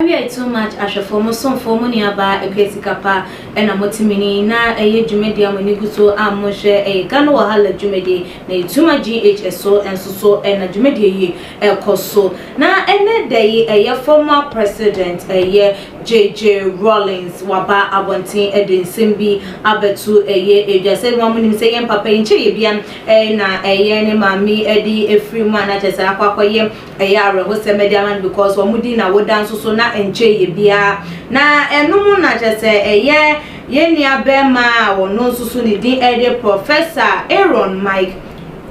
Awiei too much ahwɛfoɔ mo somfoɔ mo nuabaa ɛkɔyɛ sika pa ɛna mo te mini na ɛyɛ dwumadie a mo ani gu so a mo nhwɛ ɛyɛ Ghana wahala dwumadie na ɛyɛ too much GH ɛso nso so ɛna dwumadie yi ɛkɔ so na ɛnɛ da yi ɛyɛ former president ɛyɛ JJ Rawlings waba abɔnten ɛde nsɛm bi abɛto ɛyɛ edwa sɛ nua mo nim sɛ yɛn papa yi nkyɛ yɛ bia ɛyɛ na ɛyɛ ne maame ɛde ɛfiri mu a na kyɛ sɛ akɔ akɔ yɛ ɛyɛ awerɛho sɛm ɛde ama no because wɔn mo di na woda nso so na nkyɛ yɛ bia na ɛno mo na kyɛ sɛ ɛyɛ yɛn nua bɛɛma a wɔn nso so ne din ɛde Professor Aaron Mike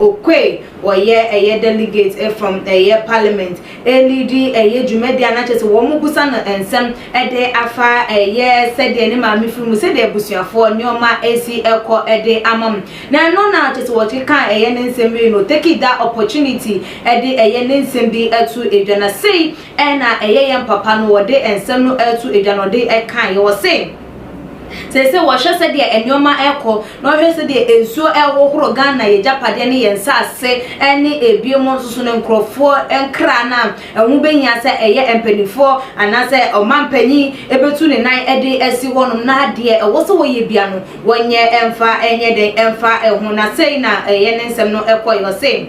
Oquaye wɔyɛ ɛyɛ delegate from ɛyɛ parliament Anidi yɛ dwumadi a na kyerɛ sɛ wɔbisa no nsɛm de afa ɛyɛ sɛdeɛ ne maame firi mu, sɛdeɛ abusuafoɔ nneɛma si kɔ de ama mu. Na ɛno na kyerɛ sɛ wɔkekaa ɛyɛ ne nsɛm wei no, taking that opportunity de ɛyɛ ne nsɛm bi ato dwa. Na sei na ɛyɛ yɛn papa no, ɔde nsɛm no ato dwa na ɔde kaeɛ. Ɔse. Seesei wɔhwɛ sɛdeɛ nnoɔma rekɔ na wɔhwɛ sɛdeɛ nsuo rehohoro Ghana yɛn agyapadeɛ ne yɛn nsase ne ebinom nso so no nkorɔfoɔ nkra no a ɛho bɛhia sɛ ɛyɛ mpanimfoɔ anaasɛ ɔmanpanyin bɛtu ne nan de asi hɔnom na deɛ ɛwɔ sɛ wɔyɛ bia no wɔnyɛ mfa nyɛ dɛn mfa ho na sei na ɛyɛ ne nsɛm no kɔeɛ ɔse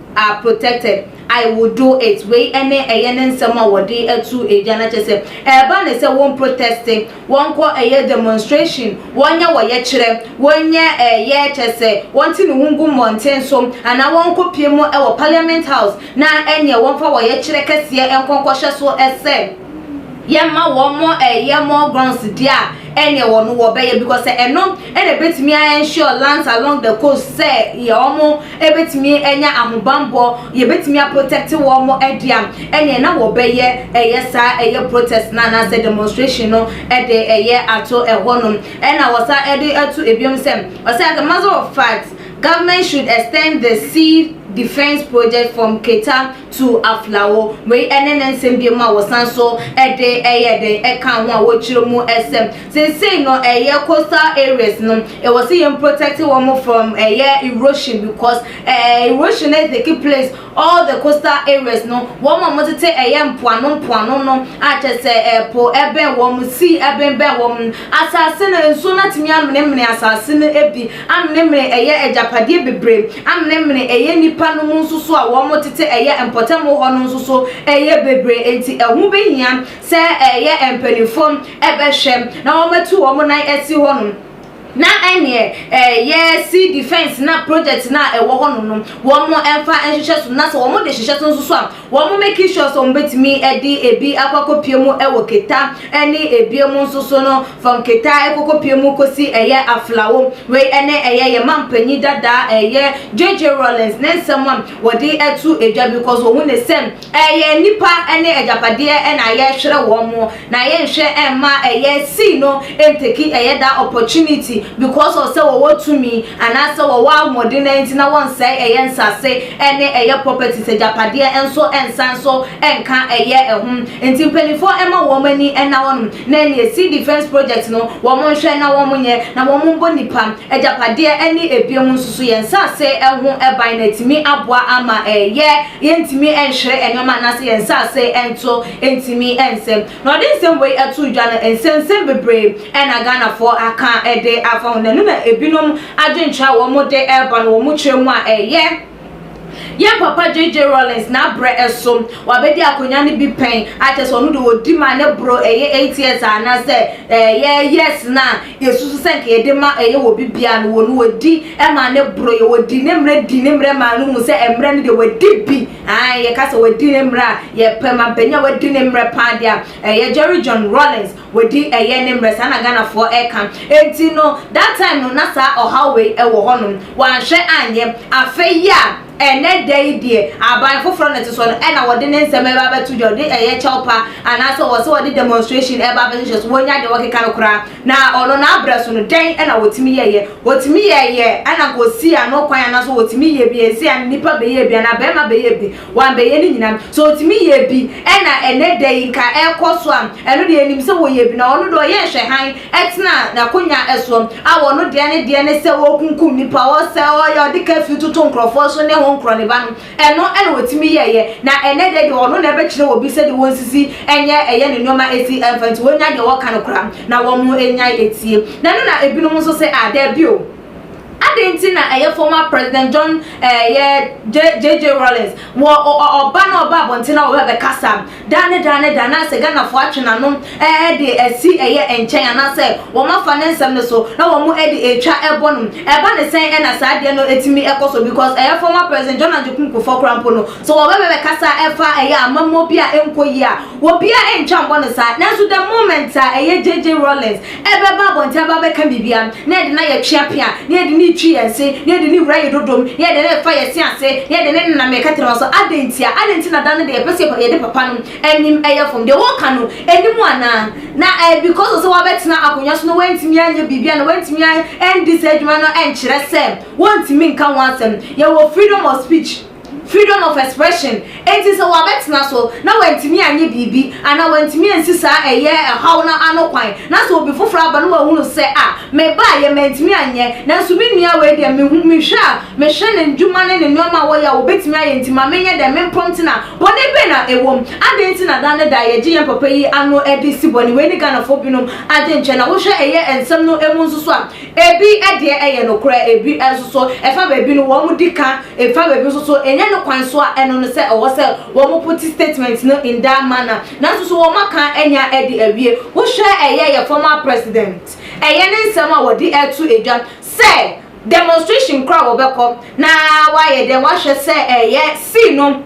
are protected, I will do it wei ne ɛyɛ ne nsɛm a wɔde atu agya no kyɛ sɛ ɛreba ne sɛ wɔn proteste, wɔnkɔ ɛyɛ demonstration, wɔnyɛ wɔyɛkyerɛ, wɔnyɛ ɛyɛ kyɛ sɛ wɔnte ne ho ngu mmɔnten so anaa wɔnkɔ pie mu wɔ parliament house na ɛneɛ wɔmfa wɔyɛkyerɛ kɛseɛ nkɔ nkɔhyɛ so sɛ. yɛ ma wɔn mo ɛyɛ more grounds deɛ a ɛneɛ wɔ no wɔbɛyɛ because sɛ ɛno ɛna ɛbɛtumi a ensure lands along the coast sɛ yɛ wɔn mo ɛbɛtumi anya ahobanbɔ yɛbɛtumi a protect wɔn mo ɛde a ɛneɛ na wɔbɛyɛ ɛyɛ saa ɛyɛ protest na anaasɛ demonstration no ɛde ɛyɛ ato ɛhɔ nom ɛna wɔsa ɛde ato ebiom sɛ ɔsɛ as a matter of fact government should extend the sea defense project from Keta to aflawo. Wei ne ne nsɛm binom a wɔsan nso de yɛ dɛn ɛka ho a wɔkyerɛ mu sɛ sensei no ɛyɛ coastal areas no ɛwɔ sɛ yɛn protect wɔn from ɛyɛ erosion because ɛɛ erosion is the key place all the coastal areas no wɔn a wɔtete ɛyɛ mpoano mpoano no akyɛ sɛ ɛpo ɛbɛn wɔn sea ɛbɛnbɛn wɔn asase no nsuo no atumi amenemene asase no bi Amenemene ɛyɛ agyapadeɛ bebree. Amenemene ɛyɛ nnipa no mu nso so a wɔn tete ɛyɛ mpɔtam hɔ no nso so ɛyɛ bebree enti ɛho bɛhia sɛ ɛyɛ mpaninfoɔ ɛbɛhwɛ na wɔn atu wɔn nan asi hɔ nom na ɛneɛ ɛyɛ sea defence na project no a ɛwɔ hɔ nom no wɔn ɛmfa nhyehyɛ so na sɛ wɔn de hyehyɛ so nso so a Wɔn making sure sɛ wɔbɛtumi de ebi akɔ akɔpie mu wɔ keta ne ebie mu nso so no, from keta kɔkɔpie mu kɔsi ɛyɛ aflawo. Wei ne ɛyɛ yɛn mampanyin dada a ɛyɛ JJ Rawlings ne nsɛm a wɔde to dwa because wɔhu no sɛ ɛyɛ nnipa ne agyapadeɛ na yɛrehwere wɔn. Na yɛ nhwɛ ɛmma ɛyɛ see no ntake ɛyɛ daa opportunity because of sɛ wɔwɔ tumi anaa sɛ wɔwɔ ahoɔden naa nti na wɔnsɛe ɛyɛ nsase ɛne ɛyɛ properties agyapadeɛ nso ɛnsan nso ɛnka ɛyɛ ɛho nti mpaninfoɔ ɛmma wɔn ani ɛna hɔ nom na ɛneɛ see defence project no wɔn nhwɛ na wɔn nyɛ na wɔn mbɔ nipa agyapadeɛ ɛne ɛbiom nso so yɛn nsase ɛho ɛban na atumi aboa ama ɛyɛ yɛntumi ɛnhwere ɛnoɔma anaa sɛ yɛn nsase ɛnto ntumi nsɛ. Na ɔde nsɛm wei too dwa no, nsɛnsɛm bebree na Ghanafoɔ aka de afa ho, na ɛno na ebinom adwenkyerɛ a wɔde reba no wɔn kyerɛ mu a ɛyɛ Yɛn papa JJ Rawlings n'abrɛ so wabɛdi akonnwa no bi pɛn akyɛ sɛ ɔno deɛ ɔdi ma ne boro ɛyɛ eight years a anaasɛ ɛyɛ years no a yɛsusu sɛ nka yɛde ma ɛyɛ wɔ bi biara no wɔ no wɔdi ma ne boro yɛ wɔdi ne mmerɛ di ne mmerɛ maa no hu sɛ mmerɛ no deɛ wɔadi bi Ae, yɛka sɛ wɔadi ne mmerɛ a, yɛpɛ ma panin a wadi ne mmerɛ pa ara deɛ a, ɛyɛ Jerry John Rawlings, wadi ɛyɛ ne mmerɛ, saa na Ghanafoɔ ɛka. Enti no, that time no na saa ɔhaw wei ɛwɔ hɔ nom, wɔanhwɛ anyɛ. Afei yi a, ɛnnɛ da yi deɛ, aban foforɔ na ɛte soɔ no, ɛna wɔde ne nsɛm ɛreba abɛto dwa, wɔde ɛyɛ kyɛwpa, anaasɛ wɔse wɔde demonstration ɛreba abɛhyehyɛ so, wɔnnya deɛ wɔkeka no koraa. Na ɔno n'abrɛ so no, dɛn na otumi yɛeɛ? Otumi yɛeɛ na nka osii ano kwan anaasɛ otumi yɛɛ bi. Ɛnsɛ a nnipa bɛyɛɛ bi anaa barima bɛyɛɛ bi. Wɔammɛyɛ ne nyinaa. Sɛ otumi yɛɛ bi na ɛnnɛ da yi nka ɛrekɔ so a, ɛno deɛ yɛnim sɛ wɔyɛɛ bi. Na ɔno deɛ ɔyɛɛ nhwɛhan tenaa n'akonnwa soɔ a ɔno deɛ ne deɛ ne sɛ ɔrekunkum nnipa, ɔresɛe, ɔreyɛ, ɔde kafyu toto nkurɔfoɔ so ne honkorɔ ne ba no. Ɛno na ɔtumi yɛeɛ, na ɛnnɛ da yi deɛ ɔno na ɛbɛkyerɛ obi sɛdeɛ wɔnsisi nyɛ ɛyɛ ne nneɛma ɛsi ɛmfa nti wɔnya deɛ wɔka no koraa na wɔnnyae ɛtie. Na ɛno na ɛbinom nso sɛ ah daabi o. Adɛn nti na ɛyɛ former President John ɛyɛ JJ Rawlings wɔ ɔ ɔ ɔba na ɔba abɔnten na ɔbɛbɛkasa Da ne da ne da na sɛ Ghanafoɔ atwe n'ano de asi ɛyɛ nkyɛn anaasɛ wɔn afa ne nsɛm no so na wɔn de ɛretwa ɛbɔ no. Ɛba ne sɛn ɛna saa adeɛ no ɛtumi ɛkɔ so because ɛyɛ former President John Agyekum Kufuor koraa mpo no sɛ wɔba bɛbɛkasa ɛfa ɛyɛ amammuo bi a ɛnkɔ yie a obiara ɛntwa mbɔ no saa nanso the moment a ɛyɛ JJ Rawlings ɛbɛba abɔnten aba abɛka biribi a, na yɛde no ayɛ tweapea, na yɛde no retwi yɛn se, na yɛde no rewura yɛn dodom, na yɛde no refa yɛn se ase, na yɛde no nenam yɛn kɛtrɛma so. Adɛn ntia? Adɛn nti na da no deɛ yɛpɛ sɛ yɛde papa no anim yɛ fam? Deɛ wɔka no nni mu anaa? Na ɛyɛ because of sɛ wabɛtena akonnwa so na wantumi anyɛ biribi anaa wantumi andi saa adwuma no nkyerɛ sɛ wɔntumi nka ho asɛm. Yɛwɔ freedom of speech. Freedom of expression, enti sɛ wɔabɛtena so na wɔantumi anyɛ biribi anaa wɔantumi ansi saa ɛyɛ haw no ano kwan na sɛ obi foforɔ aba na wahunu sɛ a, mebaeɛ mantumi anyɛ nanso me nua wei deɛ mehu, mehwɛ a mehwɛ ne ndwuma ne ne nnoɔma a wɔyɛ a wɔbɛtumi ayɛ nti ma menyɛ dɛn me prompt na bɔne bɛn na ɛwɔ mu? Adɛn nti na da ne da yɛgye yɛn papa yi ano de si bɔne? Wei ne Ghanafoɔ binom adwenkyerɛ na wohwɛ ɛyɛ nsɛm no mu nso so a Ebi deɛ ɛyɛ nokorɛ, ebi nso so, ɛfa baabi no, wɔn di ka, ɛfa baabi nso so, ɛnyɛ ne kwan so a ɛno no sɛ ɛwɔ sɛ wɔn pote statement no in that manner, nanso so wɔn aka anya adi awie. Wo hwɛ ɛyɛ yɛ former president, ɛyɛ ne nsɛm a wɔde reto dwa sɛ demonstration koraa wɔbɛkɔ na wayɛ dɛn wahwɛ sɛ ɛyɛ see no,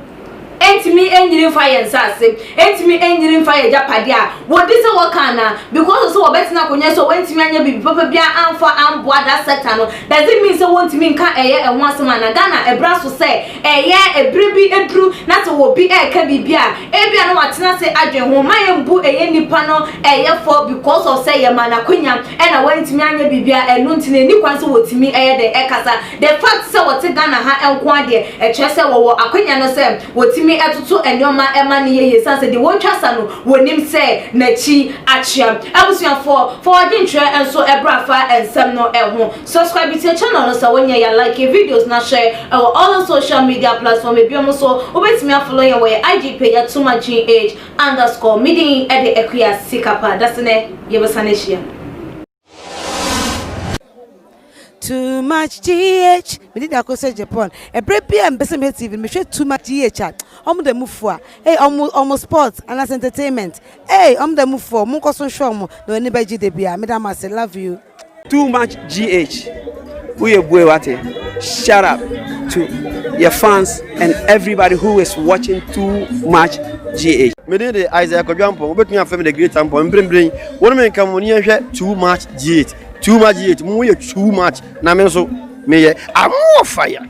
Ɛntumi nyini mfa yɛn nsase, ɛntumi nyini mfa yɛn agyapadeɛ a wɔdi sɛ wɔka anaa? Because of sɛ wɔbɛtena akonnwa so a wɔantumi anyɛ biribi papa biara amfa amboa that sector no, does it mean sɛ wɔntumi nka ɛyɛ ɛho asɛm anaa? Ghana ɛbra so sɛ ɛyɛ ɛberɛ bi aduru na sɛ obi ɛreka biribi a ebia na watena ase adwen ho. Mma yɛmbu ɛyɛ nipa no ɛyɛ fɔ because of sɛ yɛmaa no akwanya ɛna wantumi anyɛ biribiara ɛno nti no ɛnni kwan sɛ wɔtumi ɛyɛ dɛn ɛkasa. The fact sɛ wɔte Ghana ha nko ara deɛ, ɛkyerɛ sɛ wɔwɔ akwanya no sɛ wɔtumi toto nnoɔma ma no yɛ yie ɛsiane sɛ deɛ wɔretwa sa no, wɔnim sɛ n'akyi akyea. Abusuafoɔ, fa w'adwenkyerɛ nso bra fa nsɛm no ho. Subscribe to yɛ channel no sɛ wonyɛ ya, like yɛ videos na share wɔ all social media platform binom so. Wobɛtumi afollow yɛn wɔ yɛ IG page Atumachin Age underscore. Me din de Akua Sikapa. Dasene, yɛbɛsane ahyia. Too much GH. Me did ako say Japan. Ebre bi a mbese me TV, me hwe too much GH. Omo da mufu a. Hey, omo omo sports and as entertainment. Hey, omo da mufu. Omo nkoso hwe omo. No ani beji de bia. Me da mase. Love you. Too much GH. Woyɛ bue wate Shout out to yɛ fans and everybody who is watching too much GH. Me din de Isaiah Kwadu Ampong, wobɛtumi afrɛ me the great Ampong, mprempren wo ne me nka mo ne yɛnhwɛ too much GH, too much GH, mo yɛ too much na me nso meyɛ I'm more fire.